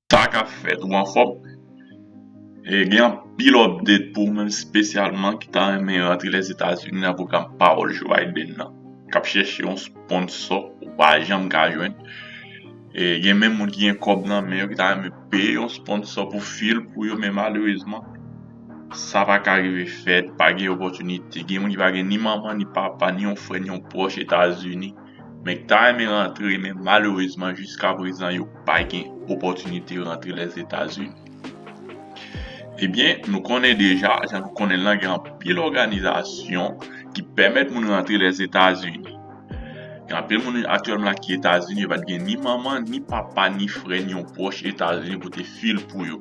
Sa kap fèt ou anfòm e gen anpil update pou ou menm spesyalman ki ta renmen rantre Lèzetazini nan pwogram pawòl Joe Biden nan kap chèche yon sponsò ou pa janm ka jwenn e gen menm moun ki gen kòb nan men yo ki ta renmen peye yon sponsò pou fil pou yo men malerezman sa pa ka rive fèt pa gen opòtinite gen moun ki pa gen ni manman ni papa ni yon frè ni yon pwòch Etazini. men ki ta renmen rantre men malerezman jiska prezan yo pa gen opòtinite rantre Lèzetazini. Ebyen, nou konnen deja, jan nou konnen l lan gen anpil òganizasyon ki pèmèt moun rantre Lèzetazini. Gen anpil moun aktyèlman la ki Etazini yo pa t gen ni manman, ni papa, ni frè, ni yon pwòch Etazini pou te fil pou yo.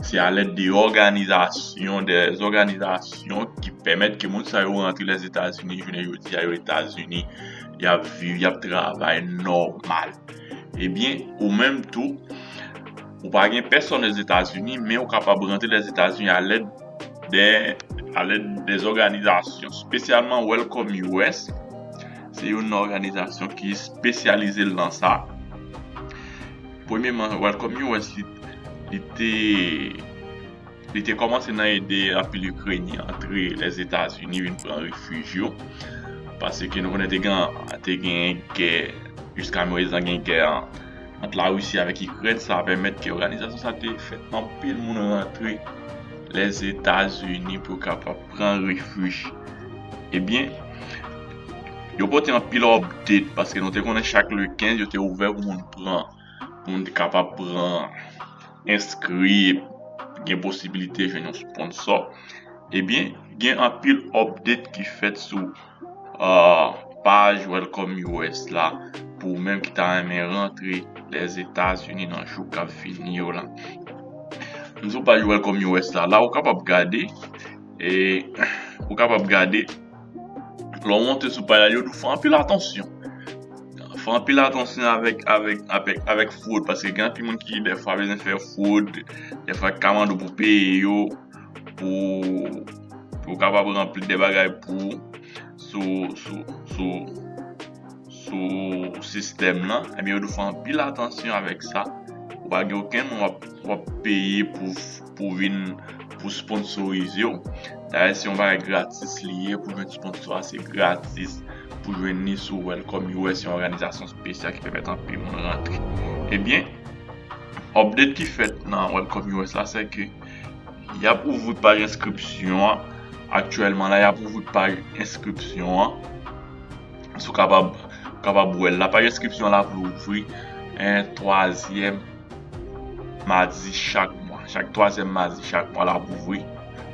Se a lèd de òganizasyon, de zòganizasyon ki pèmèt ke moun sa yo rantre Lèzetazini jounen jodi a yo Etazini. Y ap viv, y ap travay nòmal. Ebyen, ou menm tou, ou pa gen pèsòn Lèzetazini men ou kapab rantre Lèzetazini a lèd de, a lèd de zòganizasyon. Spesyalman Welcome US, se youn nan òganizasyon ki spesyalize l nan sa. Premyeman, Welcome US li. li te li te kòmanse nan ede anpil Ikrenyen antre Lèzetazini vin pran refij yo. Pase ke nou konnen te gen te gen gè, jiska mwezinan gen gè an ant la Risi avèk Ikrèn, sa pèmèt ke òganizasyon sa te fè anpil moun rantre Lèzetazini pou kapab pran refij. Ebyen, yo pote anpil òpded, paske nou te konnen chak le 15 yo te ouvè pou moun pran moun te kapab pran enskri gen posibilite jwenn yon sponsò ebyen gen anpil update ki fèt sou paj Welcome US la pou ou menm ki ta renmen rantre Lèzetazini nan jou kap vini yo la m sou paj Welcome US la la ou kapab gade e ou kapab gade Lè w monte sou pay la, yo di w fè anpil atansyon. Fè anpil atansyon avèk fwod, paske gen anpil moun ki dèfwa bezwen fè fwod, dèfwa ki ka mande w pou peye yo, pou yo kapab ranpli de bagay pou ou sou sistèm lan. Ebyen yo di w fè anpil atansyon avèk sa, ou pa gen okenn moun w ap peye pou. pou vin pou sponsorize w dayè se yon bagay gratis li ye pou jwenn sponsò a se gratis pou jwenn li sou welcome yo wè se yon òganizasyon spesyal ki pèmèt anpil moun rantre ebyen update ki fèt nan welcome yo la se ke yap ouvri paj enskripsyon an aktyèlman la yap ouvri paj enskripsyon an sou kapab kapab wè l la paj enskripsyon la ap louvri 3 zyèm madi chak mwa, chak twazyèm madi chak mwa l ap ouvri.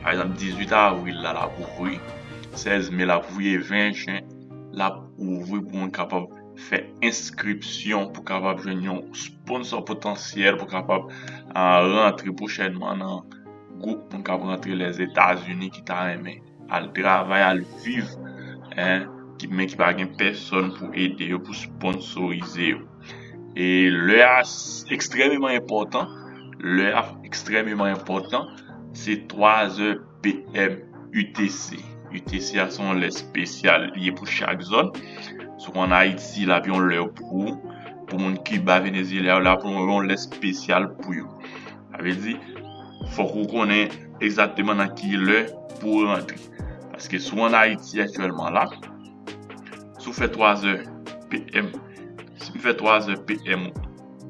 Pa egzanp, 18 avril la, l ap ouvri, 16 me l ap ouvri e 20 jen l ap ouvri pou moun kapab fè enskripsyon pou kapab jwenn yon sponsò potansyèl pou kapab rantre pwochènman nan gwoup moun k ap rantre Lèzetazini ki ta renmen. al travay al viv men ki pa gen pèsòn pou ede yo pou sponnsorize yo e lè a ekstrèmeman enpòtan lè a ekstrèmeman enpòtan se 3 zè PM UTC, UTC a se yon lè espesyal li ye pou chak zòn si w an Ayiti l ap yon lè pou moun Kiba Venezyela yo l ap yon lè espesyal pou yo. Sa vle di, fòk ou konnen egzakteman nan ki lè pou ou rantre. Paske si w an Ayiti aktyèlman la, si w fè 3 zè PM, si m fè 3 zè PM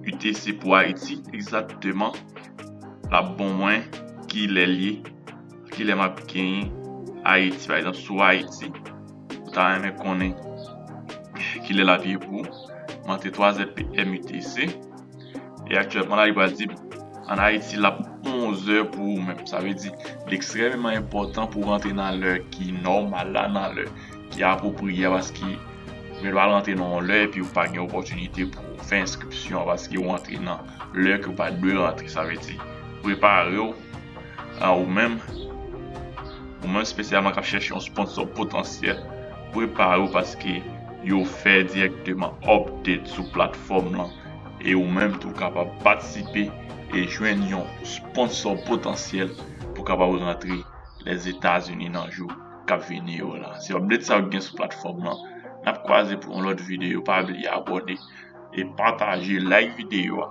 UTC pou Ayiti, egzakteman l ap bon mwen ki lè l ye, ki lè m ap genyen Ayiti. Pa egzanp, si w Ayiti, ou ta renmen konnen ki lè l ap ye pou ou, m antre 3 zè PM UTC. E aktyèlman la li pral di an Ayiti l ap 11 è pou ou menm. Sa vle di li ekstrèmeman enpòtan pou w rantre nan lè ki nòmal la, nan lè ki apwopriye a paske yo pral rantre nan yon lè epi ou pa gen opòtinite pou w fè enskripsyon an paske ou rantre nan lè ke ou pa t dwe rantre. Sa vle di prepare w ou menm, ou menm spesyalman k ap chèche yon sponsò potansyèl, prepare w paske yo fè dirèkteman update sou platfòm lan. e ou menm tou kapab patisipe e jwenn yon sponsò potansyèl pou kapab rantre Lèzetazini nan jou k ap vini yo la. Se update sa yo ki gen sou platfòm lan. N ap kwaze pou yon lòt videyo. Pa bliye abòne e pataje, like videyo a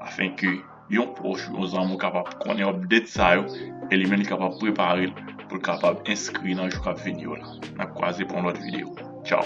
afin ke yon pwòch ou yon zanmi w kapab konnen update sa yo e li menm li kapab prepare l pou l kapab enskri nan jou k ap vini yo la. N ap kwaze pou yon lòt videyo. Tchaw!